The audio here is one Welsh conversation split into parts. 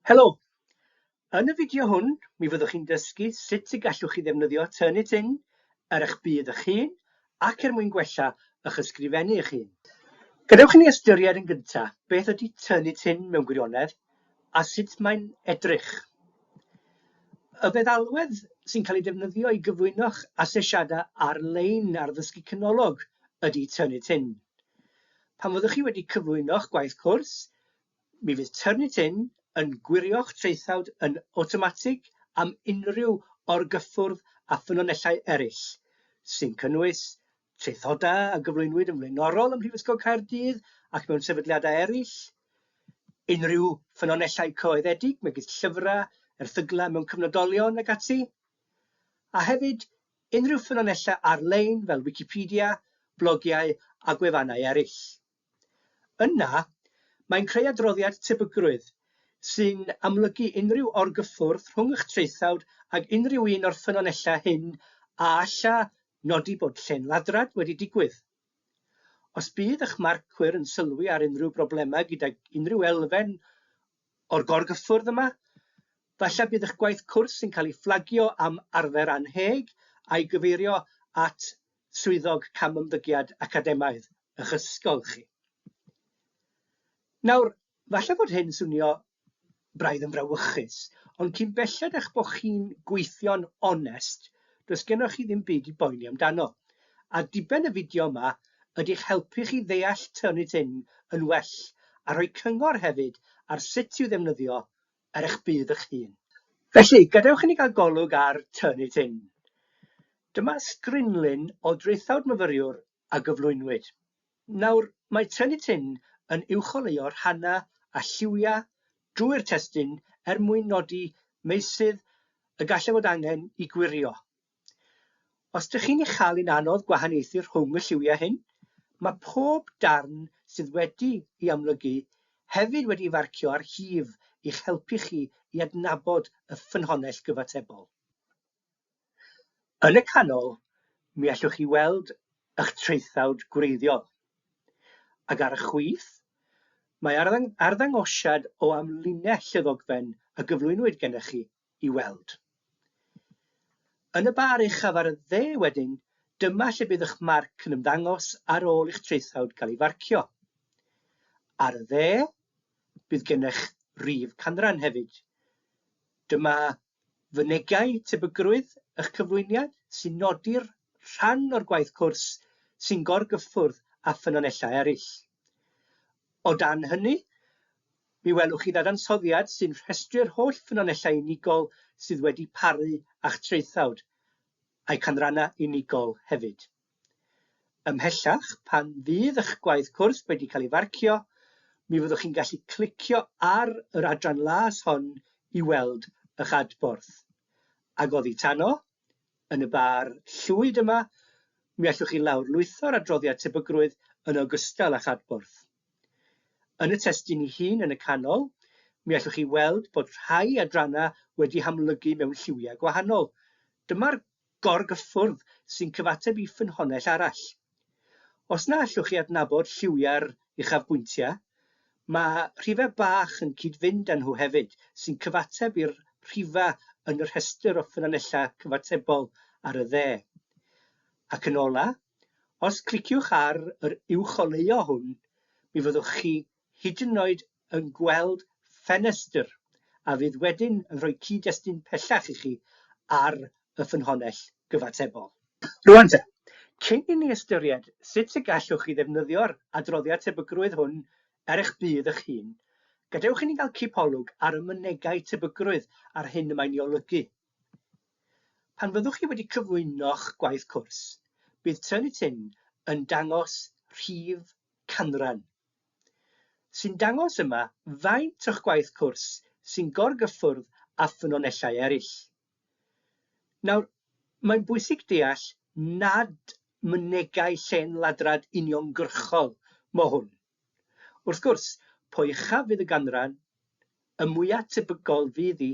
Helo! Yn y fideo hwn, mi fyddwch chi'n dysgu sut y gallwch chi ddefnyddio Turnitin ar eich byd eich hun ac er mwyn gwella eich ysgrifennu eich hun. Gadewch i ni ystyried yn gyntaf beth ydy Turnitin mewn gwirionedd a sut mae'n edrych. Y feddalwedd sy'n cael ei defnyddio i gyflwyno'ch asesiadau ar-lein ar ddysgu canolog ydy Turnitin. Pan fyddwch chi wedi cyflwyno'ch gwaith cwrs, Mi fydd Turnitin yn gwirio'ch traethawd yn awtomatig am unrhyw orgyffwrdd â ffynonellau eraill, sy'n cynnwys traethodau a gyflwynwyd yn flaenorol ym Mhrifysgol Caerdydd ac mewn sefydliadau eraill, unrhyw ffynonellau coeddedig, megis llyfrau, erthyglau mewn cyfnodolion ac ati, a hefyd unrhyw ffynonellau ar-lein fel Wicipedia, blogiau a gwefannau eraill. Yna, mae'n creu adroddiad tebygrwydd sy'n amlygu unrhyw orgyffwrdd rhwng eich traethawd ag unrhyw un o'r ffynonellau hyn a alla nodi bod llên ladrad wedi digwydd. Os bydd eich marcwyr yn sylwi ar unrhyw broblemau gydag unrhyw elfen o'r gorgyffwrdd yma, falle bydd eich gwaith cwrs yn cael ei fflagio am arfer annheg a'i gyfeirio at Swyddog Camymddygiad Academaidd ych ysgol chi. Nawr, falle fod hyn swnio braidd yn frawychus, ond cyn belled â'ch bod chi'n gweithio'n onest, does gennych chi ddim byd i boeni amdano. A diben y fideo yma ydy'ch helpu chi ddeall Turnitin yn well a rhoi cyngor hefyd ar sut i'w ddefnyddio ar eich budd eich hun. Felly, gadewch i ni gael golwg ar Turn It In. Dyma strinlun o draethawd myfyriwr a gyflwynwyd. Nawr, mae Turn It In yn uwcholeuo rhannau a lliwiau drwy'r testun er mwyn nodi meysydd y gallai fod angen i gwirio Os dych chi'n ei chael hi'n anodd gwahaniaethu rhwng y lliwiau hyn, mae pob darn sydd wedi'i amlygu hefyd wedi'i farcio ar hif i'ch helpu chi i adnabod y ffynhonnell gyfatebol. Yn y canol, mi allwch chi weld eich traethawd gwreiddiol. Ac ar y chwith, mae arddangosiad o amlinell y ddogfen a gyflwynwyd gennych chi. i weld. Yn y bar uchaf ar y dde wedyn, dyma lle bydd eich marc yn ymddangos ar ôl i'ch traethawd gael ei farcio. Ar y dde, bydd gennych rif canran hefyd. Dyma fynegai tebygrwydd eich cyflwyniad sy'n nodi'r rhan o'r gwaith cwrs sy'n gorgyffwrdd â ffynonellau eraill. O dan hynny, Mi welwch chi ddadansoddiad sy'n rhestru'r holl ffynonellau unigol sydd wedi paru a'ch traethawd, a'u canrannau unigol hefyd. Ymhellach, pan fydd eich gwaith cwrs wedi cael ei farcio, mi fyddwch chi'n gallu clicio ar yr adran las hon i weld eich adborth. Ag oddi tano, yn y bar llwyd yma, mi allwch chi lawrlwytho'r adroddiad tebygrwydd yn ogystal â'ch adborth. Yn y testun ei hun yn y canol, mi allwch chi weld bod rhai adrannau wedi hamlygu mewn lliwiau gwahanol. Dyma'r gorgyffwrdd sy'n cyfateb i ffynhonnell arall. Os na allwch chi adnabod lliwiau'r uchafbwyntiau, mae rhifau bach yn cyd-fynd â nhw hefyd, sy'n cyfateb i'r rhifau yn y rhestr o ffynonellau cyfatebol ar y dde. Ac yn olaf, Os cliciwch ar yr uwcholeuo hwn, mi fyddwch chi hyd yn oed yn gweld ffenestr a fydd wedyn yn rhoi cyd-destun pellach i chi ar y ffynhonnell gyfatebol. Rŵan te, cyn i ni ystyried sut y gallwch chi ddefnyddio'r adroddiad tebygrwydd hwn er eich budd eich hun, gadewch i ni gael cipolwg ar y mynegai tebygrwydd a'r hyn y mae'n ei olygu Pan fyddwch chi wedi cyflwyno'ch gwaith cwrs, bydd Turnitin Tin yn dangos rhif canran, sy'n dangos yma faint o'ch gwaith cwrs sy'n gorgyffwrdd â ffynonellau eraill. Nawr, mae'n bwysig deall nad mynegai llên ladrad uniongyrchol mo hwn. Wrth gwrs, po uchaf fydd y ganran, y mwya' tebygol fydd hi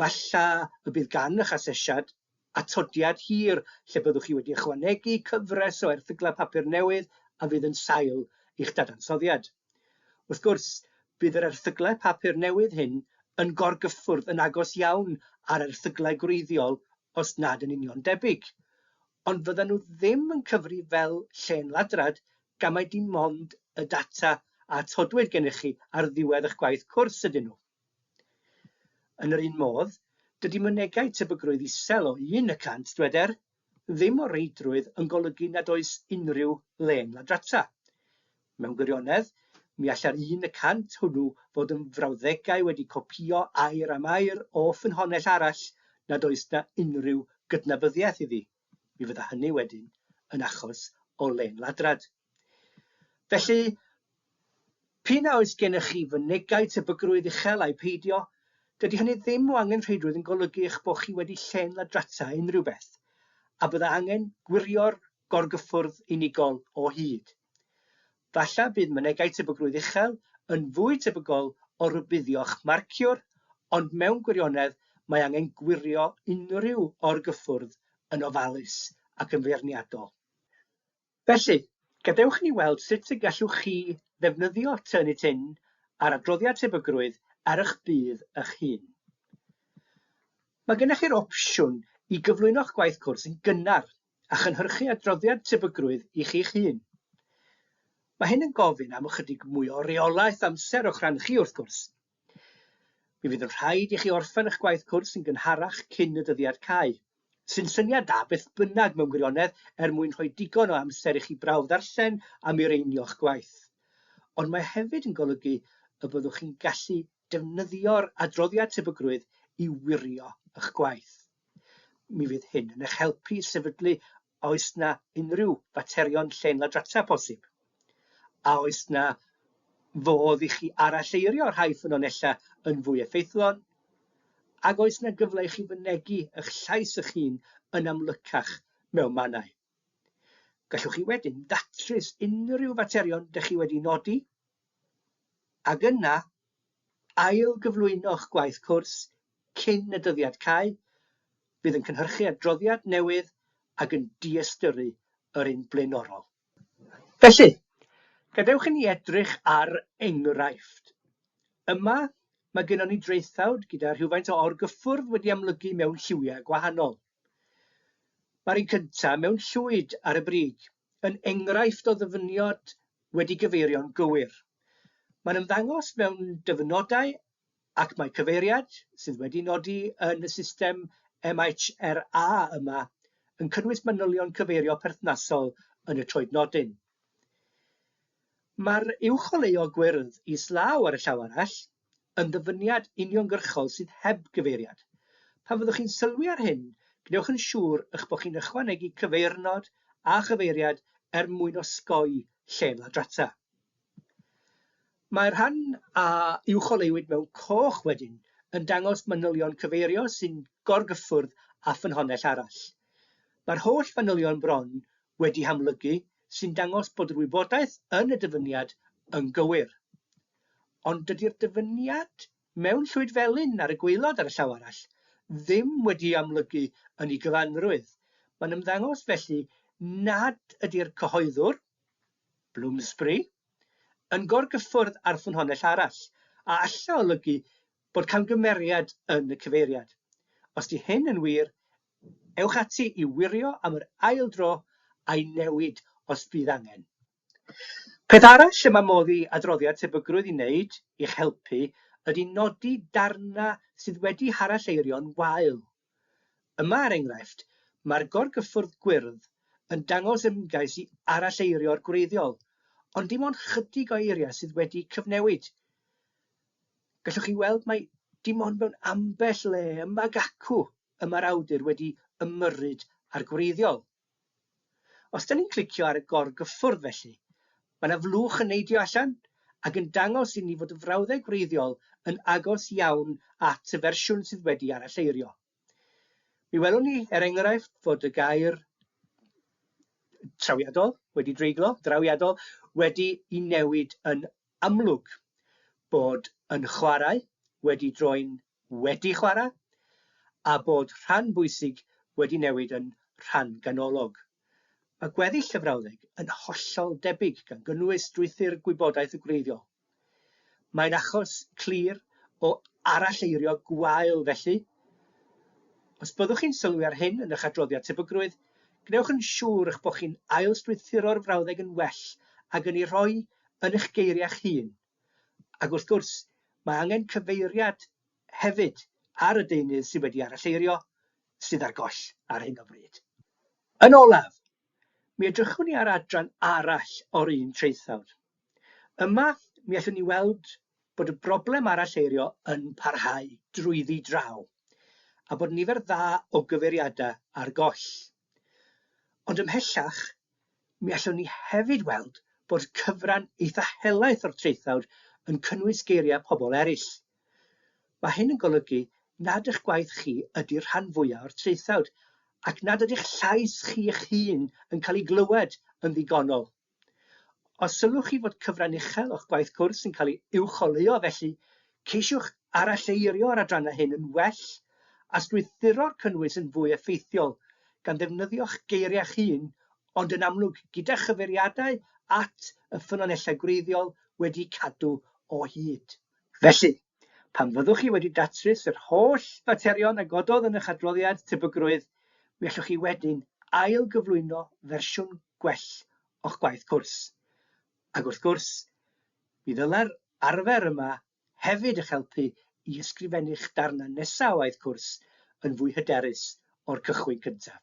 Falle y bydd gan eich asesiad atodiad hir lle byddwch chi wedi ychwanegu cyfres o erthyglau papur newydd a fydd yn sail i'ch dadansoddiad. Wrth gwrs, bydd yr erthyglau papur newydd hyn yn gorgyffwrdd yn agos iawn â'r erthyglau gwreiddiol os nad yn union debyg, ond fyddan nhw ddim yn cyfri fel llên ladrad gan mai dim ond y data a atodwyd gennych chi ar ddiwedd eich gwaith cwrs ydyn nhw. Yn yr un modd, dydy mynegai tebygrwydd isel o un y cant, dyweder, ddim o reidrwydd yn golygu nad oes unrhyw le'n ladrata. Mewn gwirionedd, mi allai'r un y cant hwnnw fod yn frawddegau wedi copïo air am air o ffynhonnell arall nad oes 'na unrhyw gydnabyddiaeth iddi. Mi fydda hynny wedyn yn achos o len ladrad. Felly, p'un a oes gennych chi fynegai tebygrwydd uchel ai peidio, dydy hynny ddim o angenrheidrwydd yn golygu eich bod chi wedi len ladrata unrhyw beth, a bydda angen gwirio'r gorgyffwrdd unigol o hyd. Falle bydd mynegai tebygrwydd uchel yn fwy tebygol o rybuddio'ch marciwr, ond mewn gwirionedd mae angen gwirio unrhyw or-gyffwrdd yn ofalus ac yn feirniadol. Felly, gadewch i ni weld sut y gallwch chi ddefnyddio Turnitin a'r adroddiad tebygrwydd ar eich budd eich hun. Mae gennych chi'r opsiwn i gyflwyno'ch gwaith cwrs yn gynnar a chynhyrchu adroddiad tebygrwydd i chi'ch hun. Mae hyn yn gofyn am ychydig mwy o reolaeth amser o'ch rhan chi, wrth gwrs. Mi fydd yn rhaid i chi orffen eich gwaith cwrs yn gynharach cyn y dyddiad cau, sy'n syniad da beth bynnag mewn gwirionedd er mwyn rhoi digon o amser i chi brawf ddarllen a mireinio'ch gwaith. Ond mae hefyd yn golygu y byddwch chi'n gallu defnyddio'r adroddiad tebygrwydd i wirio eich gwaith. Mi fydd hyn yn eich helpu i sefydlu a oes na unrhyw faterion llên ladrata posib. A oes na fodd i chi aralleirio rhai ffynonellau yn fwy effeithlon? Ac oes na gyfle i chi fynegi eich llais eich hun yn amlycach mewn mannau? Gallwch chi wedyn datrys unrhyw faterion dych chi wedi nodi ac yna ail gyflwyno'ch gwaith cwrs cyn y dyddiad cau, fydd yn cynhyrchu adroddiad newydd ac yn diystyrru yr un blaenorol. Felly, gadewch i ni edrych ar enghraifft. Yma, mae gennon ni draethawd gyda rhywfaint o orgyffwrdd wedi amlygu mewn lliwiau gwahanol. Mae'r un cyntaf mewn llwyd ar y brig yn enghraifft o ddyfyniad wedi gyfeirio'n gywir. Mae'n ymddangos mewn dyfynodau ac mae cyfeiriad, sydd wedi nodi yn y system MHRA yma, yn cynnwys manylion cyfeirio perthnasol yn y troednodyn. Mae'r uwcholeuo gwyrdd islaw ar y llaw arall yn ddyfyniad uniongyrchol sydd heb gyfeiriad. Pan fyddwch chi'n sylwi ar hyn, gwnewch yn siŵr eich bod chi'n ychwanegu cyfeirnod a chyfeiriad er mwyn osgoi lle ladrata. Mae'r rhan a uwcholeuwyd mewn coch wedyn yn dangos manylion cyfeirio sy'n gorgyffwrdd â ffynhonnell arall. Mae'r holl fanylion bron wedi hamlygu sy'n dangos bod yr wybodaeth yn y dyfyniad yn gywir. Ond dydy'r dyfyniad mewn llwyd felyn ar y gwaelod ar y llaw arall ddim wedi'i amlygu yn ei gyfanrwydd. Mae'n ymddangos felly nad ydy'r cyhoeddwr, Bloomsbury, yn gorgyffwrdd â'r ffynhonnell arall, a alla olygu bod camgymeriad yn y cyfeiriad. Os 'di hyn yn wir, ewch ati i wirio am yr ail dro a'i newid os bydd angen. Peth arall y mae modd i adroddiad tebygrwydd i wneud i'ch helpu ydy nodi darnau sydd wedi haralleirio'n wael. Yma, er enghraifft, mae'r gorgyffwrdd gwyrdd yn dangos ymgais i aralleirio'r gwreiddiol, ond dim ond chydig o eiriau sydd wedi cyfnewid. Gallwch chi weld mai dim ond mewn ambell le ymag acw y mae'r awdur wedi ymyrryd â'r gwreiddiol. Os da ni'n clicio ar y gorgyffwrdd felly, mae yna flwch yn neidio allan ac yn dangos i ni fod y frawddeg wreiddiol yn agos iawn at y fersiwn sydd wedi aralleirio. Mi welwn ni, er enghraifft, fod y gair trawiadol wedi dreiglo, drawiadol, wedi i newid yn amlwg bod yn chwarae, wedi droi'n wedi chwarae, a bod rhan bwysig wedi newid yn rhan ganolog. Mae gweddill y frawddeg yn hollol debyg, gan gynnwys strwythur gwybodaeth y gwreiddiol. Mae'n achos clir o aralleirio gwael felly, Os byddwch chi'n sylwi ar hyn yn eich adroddiad tebygrwydd, gwnewch yn siŵr eich bod chi'n ail-strwythuro'r frawddeg yn well ag yn ei rhoi yn eich geiriau'ch hun. Ac wrth gwrs, mae angen cyfeiriad hefyd ar y deunydd sydd wedi aralleirio, sydd ar goll ar hyn o bryd. Yn olaf, mi edrychwn i ar adran arall o'r un traethawd. Yma, mi allwn ni weld bod y broblem aralleirio yn parhau drwyddi draw, a bod nifer dda o gyfeiriadau ar goll. Ond ymhellach, mi allwn ni hefyd weld bod cyfran eitha helaeth o'r traethawd yn cynnwys geiriau pobl eraill. Mae hyn yn golygu nad eich gwaith chi ydy'r rhan fwyaf o'r traethawd, ac nad ydy'ch llais chi eich hun yn cael ei glywed yn ddigonol. Os sylwch chi fod cyfran uchel o'ch gwaith cwrs yn cael ei uwcholeuo felly, ceisiwch aralleirio'r adrannau hyn yn well a strwythuro'r cynnwys yn fwy effeithiol, gan ddefnyddio'ch geiriau'ch hun, ond yn amlwg gyda chyfeiriadau at y ffynonellau gwreiddiol wedi'u cadw o hyd. Felly. Pan fyddwch chi wedi datrys yr holl faterion a gododd yn eich adroddiad tebygrwydd, mi allwch chi wedyn ail-gyflwyno fersiwn gwell o'ch gwaith cwrs. Ac wrth gwrs, mi ddylai'r arfer yma hefyd eich helpu i ysgrifennu'ch darnau nesaf o waith cwrs yn fwy hyderus o'r cychwyn cyntaf.